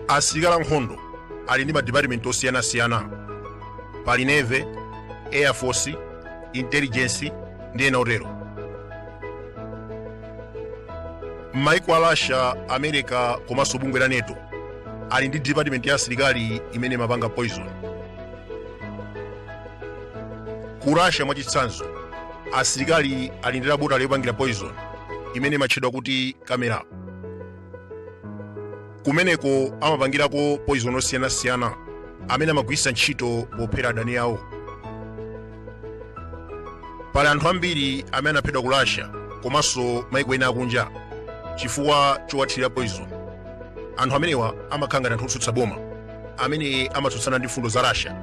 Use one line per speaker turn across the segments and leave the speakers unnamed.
asilikali ankhondo ali ndi madipatimenti osiyanasiyana pali navy air force intelligence ndi ena otero m'maiko a russia america komanso bungwe la NATO ali ndi department ya asilikali imene imapanga poison ku russia mwachitsanzo asilikali ali ndi labotale yopangira poison imene imatchedwa kuti kamera kumeneko amapangirako poison osiyanasiyana amene amagwiritsa ntchito pophera adani awo pali anthu ambiri amene anaphedwa ku russia komanso maiko ena akunja chifukwa chowathirira poison anthu amenewa amakhala ngati anthu otsutsa boma amene amatsutsana ndi mfundo za russia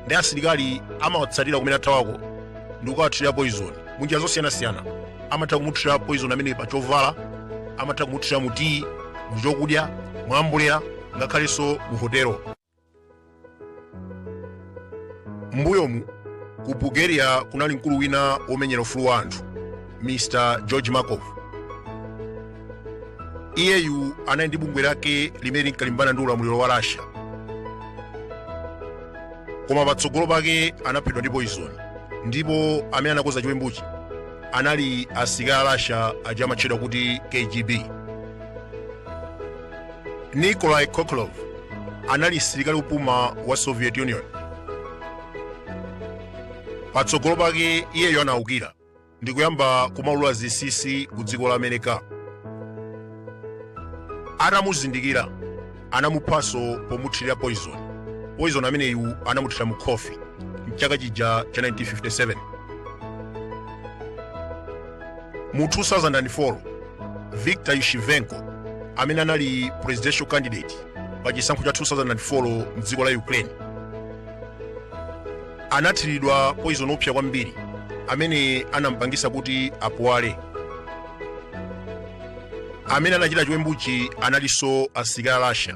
ndiye asilikali amawatsatira kumene athawako ndi kukawathirira poison munjira zosiyanasiyana amatha kumuthirira poison amene pa chovala amatha kumuthirira mu tiyi mu chokudya mwambulera ngakhalenso mu hotelo m'mbuyomu ku bulgaria kunali mkulu wina womenyera ufulu wa anthu mr george markov iyeyu anali ndi bungwe lake limene linkalimbana ndi ulamuliro wa russia koma patsogolo pake anaphedwa ndi poizoni ndipo amene anakonza chiwembuchi anali asilikali a russia aja amatchedwa kuti kgb Nikolai Khokhlov anali msilikali wopuma wa Soviet Union. Patsogolo pake iyeyo anaukira ndi kuyamba kumaulula zinsinsi ku dziko la America. Atamuzindikira anamuphanso pomuthirira poison. Poison ameneyu anamuthira mu khofi mchaka chija cha 1957. Mu 2004, Viktor Yushchenko, amene anali presidential candidate pa chisankho cha 2004 mdziko la Ukraine, anathiridwa poison oopsa kwambiri amene anampangisa kuti apuwale. Amene anachita chiwembuchi analinso asilikali a Russia.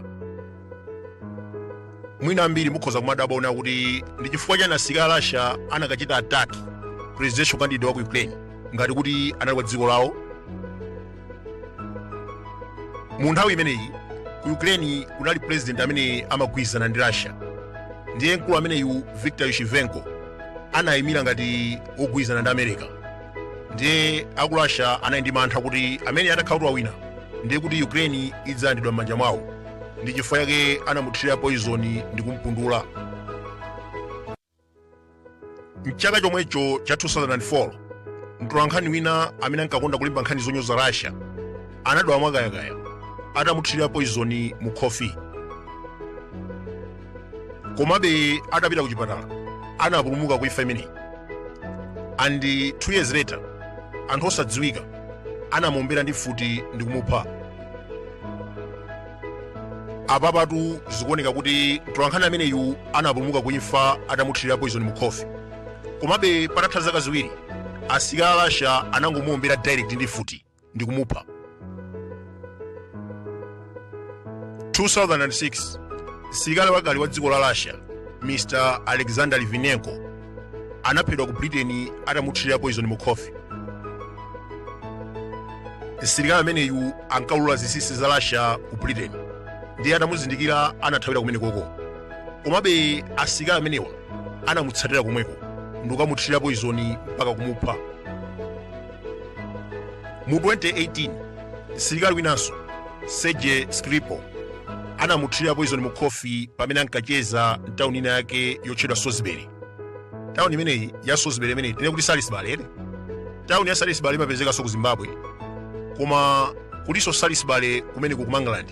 mwina ambiri mukhoza kumadabwa una kuti ndi chifukwa chani asilikali a russia anakachita attack presidential candidate wa ku ukraine ngati kuti anali kwa dziko lawo mu nthawi imeneyi ku ukraine kunali president amene amagwirizana ndi russia ndiye mkulu ameneyu victor yushchenko anayimira ngati wogwirizana ndi america ndiye aku russia anali ndi mantha kuti ameneyu atakhala kuti wawina ndiye kuti ukraine idzalandidwa m'manja mwawo ndi chifukwa chake anamuthirira poizoni ndi kumpundula mchaka chomwecho cha 2004 mtolankhani wina amene ankakonda kulemba nkhani zonyoza russia anadwala mwakayakaya atamuthirira poizoni mu khofi komabe atapita ku chipatala anapulumuka ku imfa imeneyi and two years later anthu osadziwika anamuombera ndi mfuti ndi kumupha apapatu zikuoneka kuti mtolankhani ameneyu anapulumuka ku imfa atamuthirira poison mu khofi komabe patatha zaka ziwiri asilikali a russia anangomuombera direct ndi mfuti ndi kumupha 2006 msilikali wakale wa dziko la russia mr alexander litvinenko anaphedwa ku britain atamuthirira poison mu khofi msilikali ameneyu ankaulula zinsinsi za russia ku britain ndiye atamuzindikira anathawira kumenekoko komabe asilikali amenewa anamutsatira komweko ndikukamuthirira poison mpaka kumupha mu 2018 msilikali winanso sergey skripal anamuthirira poizoni mu khofi pamene ankacheza mtawuni ina yake yotchedwa salisbury tawuni imeneyi ya salisbury imene tinene kuti salisbury ere tawuni ya salisbury imapezekanso ku zimbabwe koma kulinso salisbury kumene ku england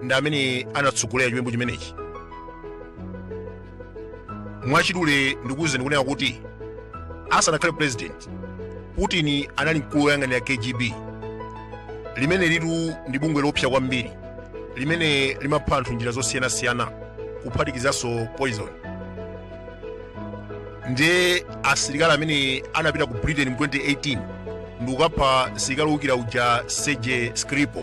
ndi amene anatsogolera chiwembu chimenechi mwachidule ndikuwuzeni kunena kuti asanakhale president putin anali mkulu woyang'anira kgb limene litu ndi bungwe loopsa kwambiri limene limapha anthu mnjira zosiyanasiyana kuphatikizanso poison ndiye asilikali amene anapita ku britain mu 2018 ndikukapha msilikali wowukira uja sergey skripal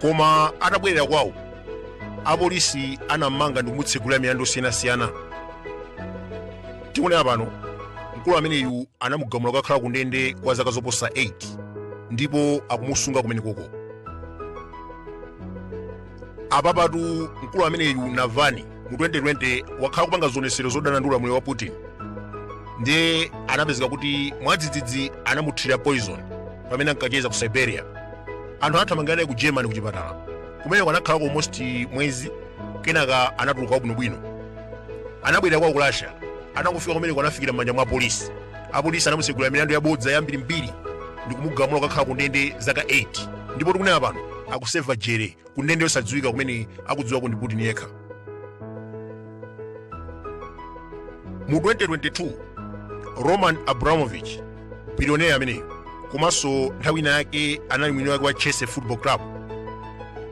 koma atabwerera kwawo apolisi anammanga ndikumutsegulira milandu yosiyanasiyana tikunena pano mkulu ameneyu anamugamula kukakhala ku ndende kwa zaka zoposa 8 ndipo akumusunga kumenekoko apapatu mkulu ameneyu navalny mu 2020 wakhala akupanga zionetsero zodana ndi ulamuliro wa putin ndiye anapezeka kuti mwadzidzidzi anamuthirira poison pamene ankacheza ku siberia anthu anathamangira naye ku germany ku chipatala kumeneko anakhalako almost mwezi kenaka anatuluka wabwinobwino anabwerera kwawo ku russia atangofika kumeneko anafikira m'manja mwa apolisi apolisi anamutsegulira milandu yabodza yambirimbiri ndi kumugamula kukakhala ku ndende zaka 8 ndipo tikunena pano akuseva jere ku ndende yosadziwika kumene akudziwako ndi putin yekha mu 2022 roman abramovich bilioneya ameneyo komanso nthawi ina yake anali mwini wake wa chelsea football club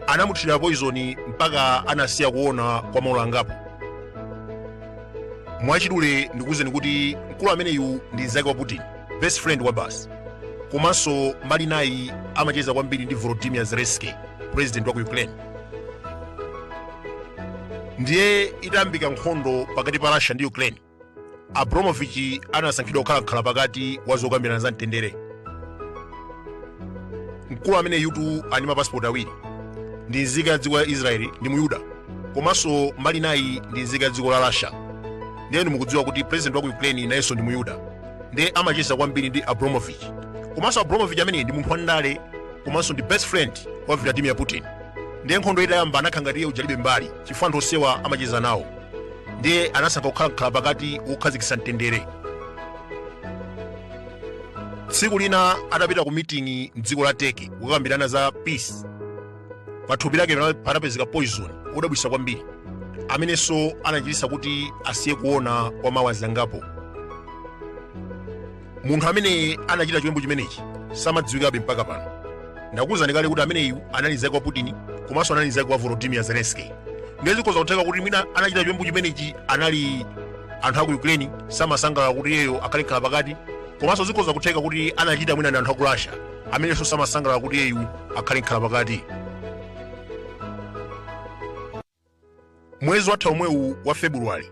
anamuthira poizoni mpaka anasiya kuona kwa maola angapo mwachidule ndikuwuzeni kuti mkulu ameneyu ndi mzake wa putin best friend wa basi komanso mbali inayi amacheza kwambiri ndi volodymyr zelensky president wa ku ukraine ndiye itayambika nkhondo pakati pa russia ndi ukraine abramovich anasankhidwa kukhala mkhala pakati wa zokambirana za mtendere mkulu ameneyutu ali ndi mapasipoti awiri ndi nzika ya dziko la israeli ndi muyuda komanso mbali inayi ndi nzika ya dziko la russia ndiye mukudziwa kuti president wa ku ukraine nayenso ndi muyuda ndiye amacheza kwambiri ndi abramovich komanso abramovich ameneyu ndi munthu wandale komanso ndi best friend wa vladimir putin ndiye nkhondo itayamba anakhala ngati iye uja alibe mbali chifukwa anthu onsewa amacheza nawo ndiye anasankha kukhala mkhala pakati wokhazikitsa mtendere tsiku lina atapita ku miting'i mdziko la turkey kukakambirana za peace pa thupi lake pana- panapezeka poison wodabwisa kwambiri amenenso anachititsa kuti asiye kuona kwa ma hours angapo munthu amene anachita chiwembu chimenechi samadziwikabe mpaka pano ndakuwuzani kale kuti ameneyu anali mzake wa putin komanso anali mzake wa volodymyr zelensky ndiye zikhoza kutheka kuti mwina anachita chiwembu chimenechi anali anthu aku ukraine samasangalala kuti iyeyo akhale mkhala pakati komanso zikhoza kutheka kuti anachita mwina ndi anthu aku russia amenenso samasangalala kuti iyeyu akhale mkhala pakati mwezi watha omwewu wa february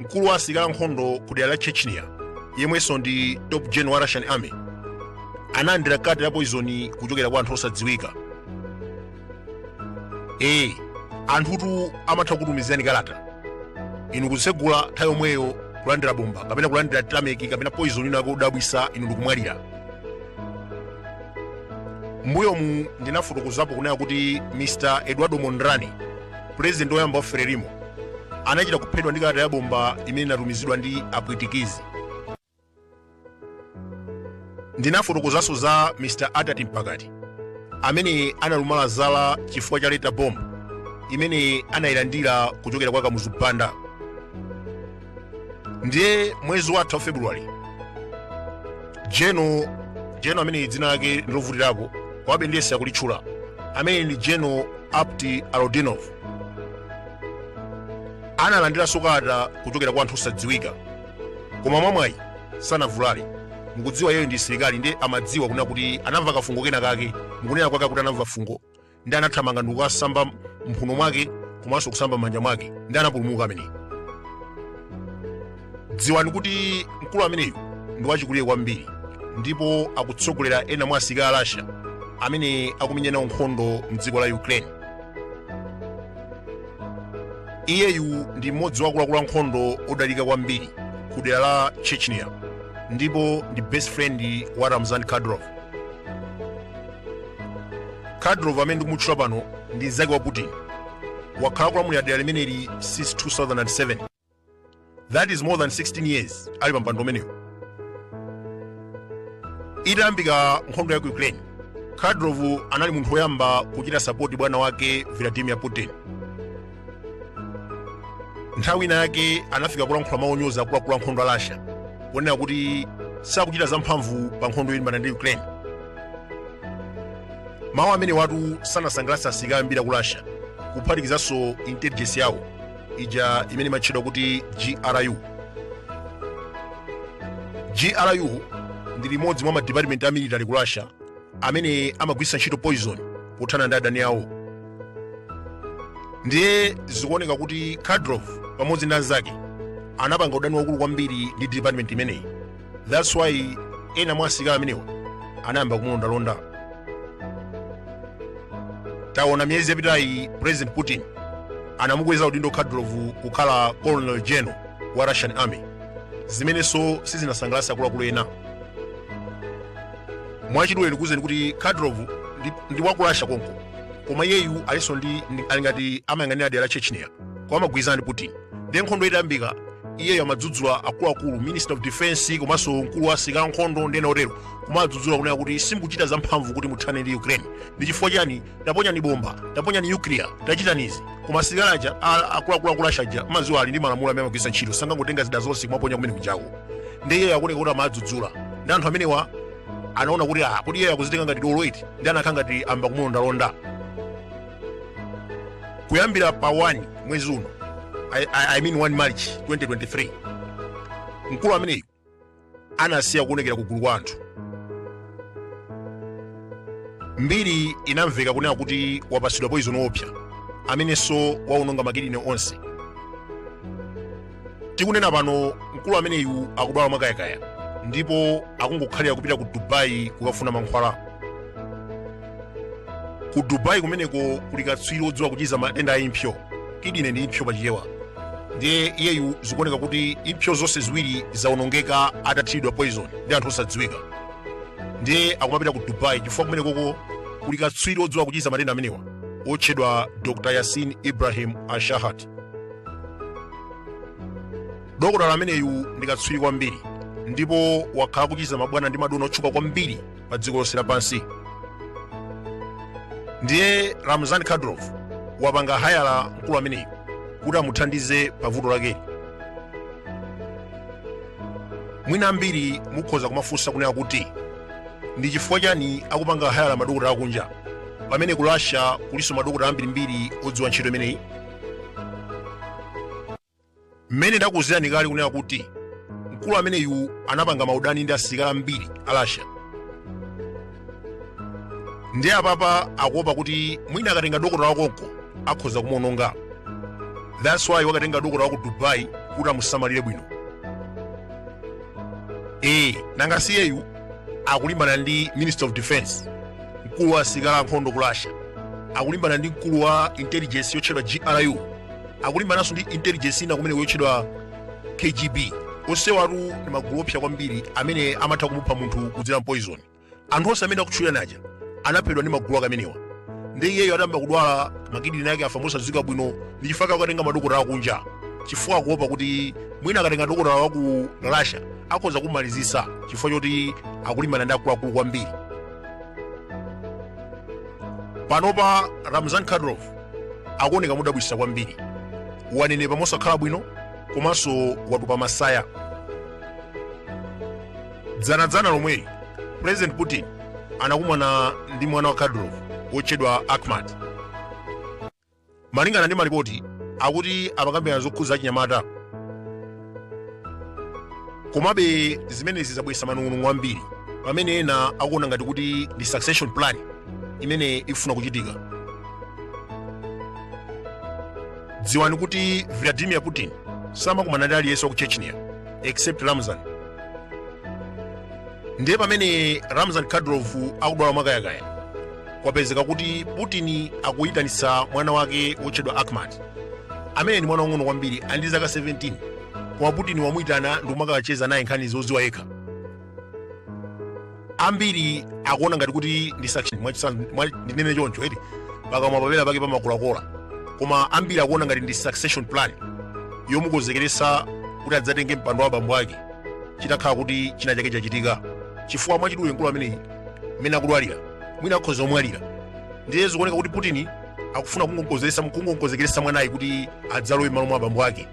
mkulu wa asilikali ankhondo ku dera la chechnya yemwenso ndi top general wa russian army analandira kati la poizoni kuchokera kwa anthu osadziwika ee anthutu amatha kutumizirani kalata inu kutsegula nthawi yomweyo kulandira bomba kapena kulandira tameki kapena poison ina yake yodabwisa inu ndikumwalira mbuyomu ndinafotokozapo kunena kuti mr eduardo mondlane pulezidenti woyamba wa frelimo anachita kuphedwa ndi kalata ya bomba imene inatumizidwa ndi apwitikizi ndinafotokozanso za mr attati mpakati amene analumala zala chifukwa cha letter bomb imene anayilandira kuchokera kwa kamuzu banda ndiye mwezi watha wa february general general amene dzina lake ndi lovutirapo komabe ndiyesa kulitchula amene ndi general apti alaudinov analandiranso kalata kuchokera kwa anthu osadziwika koma mwamwayi sanavulale mukudziwa yeyo ndi msilikali ndiye amadziwa kunena kuti anamva kafungo kena kake mukunena kwake akuti anamva fungo ndi anathamanga ndikukasamba mphuno mwake komanso kusamba m'manja mwake ndi anapulumuka ameneyu dziwani kuti mkulu ameneyu ndi wachikulire kwambiri ndipo akutsogolera ena mwa asilikali a russia amene akumenyana nkhondo mdziko la ukraine iyeyu ndi mmodzi wa akuluakulu ankhondo odalirika kwambiri ku dera la chechnya ndipo ndi best friend wa ramzan kadyrov kadyrov amene ndikumutchula pano ndi mnzake wa putin wakhala akulamulira dera limeneli since 2007 that is more than 16 years ali pa mpando umenewu itayambika nkhondo ya ku ukraine kadyrov anali munthu woyamba kuchita sapoti bwana wake vladimir putin nthawi ina yake anafika kulankhula mawu onyoza akuluakulu a nkhondo a russia kunena kuti sakuchita zamphamvu pa nkhondo yolimbana ndi ukraine mawu amenewatu sanasangalatse asilikali ambiri aku russia kuphatikizanso intelligence yawo ija imene imatchedwa kuti gru gru ndi imodzi mwa madipatimenti a military ku russia amene amagwiritsa ntchito poison pothana ndi adani awo ndiye zikuoneka kuti kadyrov pamodzi ndi anzake anapanga udani waukulu kwambiri ndi department imeneyi thats why ena mwa asilikali amenewa anayamba kumulondalonda taona miyezi yapitayi president putin anamukweza udindo kadyrov kukhala colonel general wa russian army zimenenso sizinasangalatse akuluakulu ena mwachidule ndikuuzeni kuti kadyrov ndi, ndi wa ku russia konko koma iyeyu alinso ndi ndi- ali ngati amayang'anira dera la chechnya koma amagwirizana ndi putin ndi nkhondo itayambika iyeyo amadzudzula akuluakulu minister of defense komanso mkulu wa asilikali ankhondo ndi ena otero kumadzudzula kunena kuti simukuchita zamphamvu kuti muthane ndi ukraine ndi chifukwa chani taponyani bomba taponyani nuclear tachitani izi koma asilikali aja a- akuluakulu aku russia aja mmadziwa ali ndi malamulo amene amagwiritsa ntchito sangangotenga zida zonse kumaponya kumene kujako ndi iyeyo akuoneka kuti amadzudzula ndi anthu amenewa anaona kuti ah kuti iyeyo akuzitenga ngati dolo eti ndi anakhala ngati ayamba kumulondalonda kuyambira pa 1 mwezi uno I, I, I mean 1 march 2023 mkulu ameneyu anasiya kuonekera kugulu kwa anthu mbiri inamveka kunena kuti wapatsidwa poizoni woopsa amenenso waononga makidini onse tikunena pano mkulu ameneyu akudwala mwakayakaya ndipo akungokhalira kupita ku dubai kukafuna mankhwala ku dubai kumeneko kuli katswiri wodziwa kuchiza matenda a impsyo kidine ndi impsyo pachichewa ndiye iyeyu zikuoneka kuti impsyo zonse ziwiri zawonongeka atathiridwa poison ndi anthu osadziwika ndiye akumapita ku dubai chifukwa kumenekoko kuli katswiri wodziwa kuchiza matenda amenewa wotchedwa dr yasin ibrahim al-shahat dokotala ameneyu ndi katswiri kwambiri ndipo wakhala kuchiza mabwana ndi madona otchuka kwambiri pa dziko lonse lapansi ndiye ramzan kadyrov wapanga hayala mkulu ameneyu kuti amuthandize pa vuto lakeli mwina ambiri mukhoza kumafunsa kunena kuti ndi chifukwa chani akupanga hayala madokotala akunja pamene ku russia kulinso madokotala ambirimbiri odziwa ntchito imeneyi mmene ndakuuzirani kale kunena kuti mkulu ameneyu anapanga maudani ndi asilikali ambiri a russia ndiye apapa akuopa kuti mwina akatenga dokotala wakonko akhoza kumuononga that's why wakatenga dokotala wa ku dubai kuti amusamalire bwino ee nanga siyeyu akulimbana ndi minister of defense mkulu wa asilikali ankhondo ku russia akulimbana ndi mkulu wa intelligence yotchedwa gru akulimbananso ndi intelligence ina kumeneko yotchedwa kgb onsewatu ndi magulu oopsa kwambiri amene amatha kumupha munthu kudzera m'poison anthu onse amene ndakutchulirani aja anaphedwa ndi magulu ake amenewa ndiye iyeyo atayamba kudwala makidini ake afa mosadziwika bwino ndi chifukwa chake akukatenga madokotala akunja chifukwa akuopa kuti mwina akatenga dokotala wa ku russia akhoza kummalizitsa chifukwa choti akulimbana ndi akuluakulu kwambiri panopa ramzan kadyrov akuoneka modabwitsa kwambiri wanenepa mosakhala bwino komanso watupa masaya dzanadzana lomweli president putin anakumana ndi mwana wa kadyrov wotchedwa akhmat Malingana ndi malipoti akuti amakambirana zokhudza achinyamata. Komabe zimenezi zabweretsa manong'onong'o ambiri pamene ena akuona ngati kuti ndi succession plan imene ikufuna kuchitika. Dziwani kuti Vladimir Putin samakumana ndi aliyense wa ku Chechnya except Ramzan. Ndiye pamene Ramzan Kadyrov akudwala mwakayakaya kwapezeka kuti putin akuyitanitsa mwana wake wotchedwa akhmat amene ndi mwana wang'ono kwambiri ali ndi zaka 17 koma putin wamuyitana ndikumakacheza naye nkhani zoziwa yekha ambiri akuona ngati kuti ndi ndinene choncho eti pakamwa pena pake pamakulakola koma ambiri akuona ngati ndi succession plan yomukonzekeresa kuti adzatenge mpando wa abambo ake chitakhala kuti china chake chachitika chifukwa mwachidule mkulu ameneyi mmene akudwalira mwina akhoza omwalira ndiye zikuoneka kuti putin akufuna kungokonzekeresa mwanayi kuti adzalowe m'malo mwa abambo ake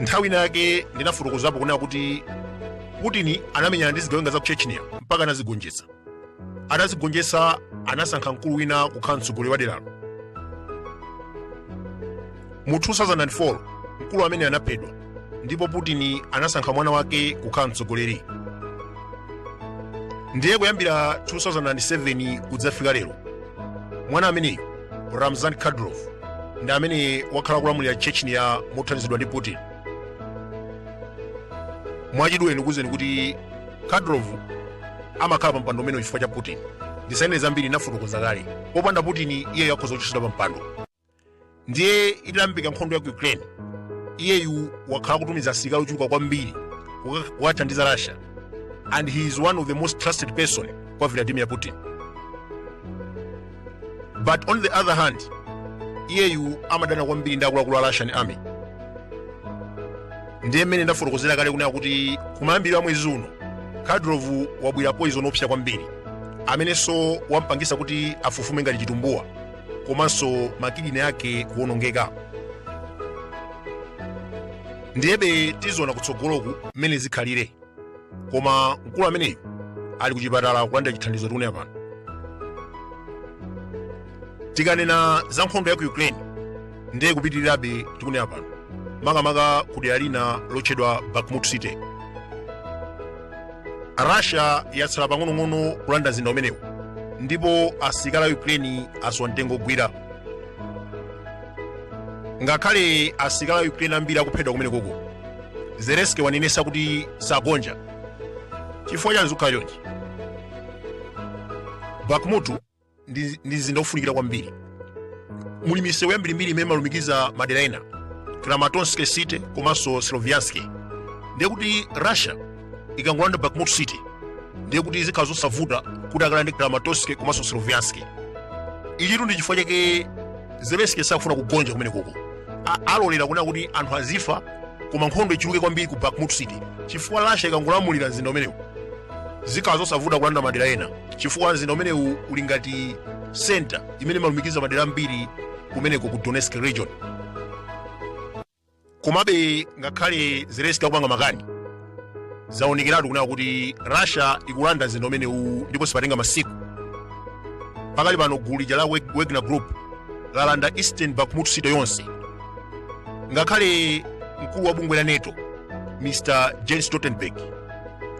nthawi ina yake ndinafotokozapo kunena kuti putin anamenyana ndi zigawenga za ku chechnya mpaka anazigonjetsa atazigonjetsa anasankha mkulu wina kukhala mtsogoleri wa deralo mu 2004 mkulu amene anaphedwa ndipo putin anasankha mwana wake kukhala mtsogoleri ndiye kuyambira 2007 kudzafika lero mwana ameneyu ramzan kadyrov ndi amene wakhala kulamulira chechnya mothandizidwa ndi putin mwachidule ndikuwuzeni kuti kadyrov amakhala pa mpando umenewu chifukwa cha putin ndisanene zambiri ndinafotokoza kale popanda putin iyeyo akhoza kuchotsedwa pa mpando ndiye itayambika nkhondo ya ku ukraine iyeyu wakhala kutumiza asilikali ochuluka kwambiri kukathandiza russia and he is one of the most trusted person kwa vladimir putin but on the other hand iyeyu amadana kwambiri ndi akuluakulu a russian army ndiye mmene ndafotokozera kale kunena kuti kumayambiriro a mwezi uno kadyrov wamwera poison oopsa kwambiri amenenso wampangisa kuti afufume ngati chitumbuwa komanso makidini ake kuwonongeka ndiyebe tiziona kutsogoloku mmene zikhalire koma mkulu ameneyu ali kuchipatala kulandira chithandizo tikunena pano tikanena za nkhondo ya ku ukraine ndiye ikupitirirabe tikunena pano makamaka ku dera lina lotchedwa bakhmut city russia yatsala pang'onong'ono kulanda mzinda umenewu ndipo asilikali a ukraine asowa mtengo ogwira ngakhale asilikali a ukraine ambiri akuphedwa kumenekoko zelenski wanenesa kuti sagonja chifukwa chani zikukhala chonchi bakhmut ndi mzinda wofunikira kwambiri muli misewu yambirimbiri imene imalumikiza madera ena kramatorsk city komanso sloviansk ndiye kuti russia ikangolanda bakhmut city ndiye kuti zikhala zosavuta kuti akalande kramatorsk komanso sloviansk ichitu ndi chifukwa chake zelenski sakufuna kugonja kumenekoko alolera kunena kuti anthu azifa koma nkhondo ichuluke kwambiri ku bakhmut city chifukwa russia ikangolamulira mzinda umenewu zikhala zosavuta kulanda madera ena chifukwa mzinda umenewu uli ngati center imene imalumikiza madera ambiri kumeneko ku donetsk region komabe ngakhale zelensky akupanga makani zaonekeratu kunena kuti russia ikulanda mzinda umenewu ndipo sipatenga masiku pakali pano gulu lija la wagner group lalanda eastern bakhmut city yonse ngakhale mkulu wa bungwe la nato mr jens stoltenberg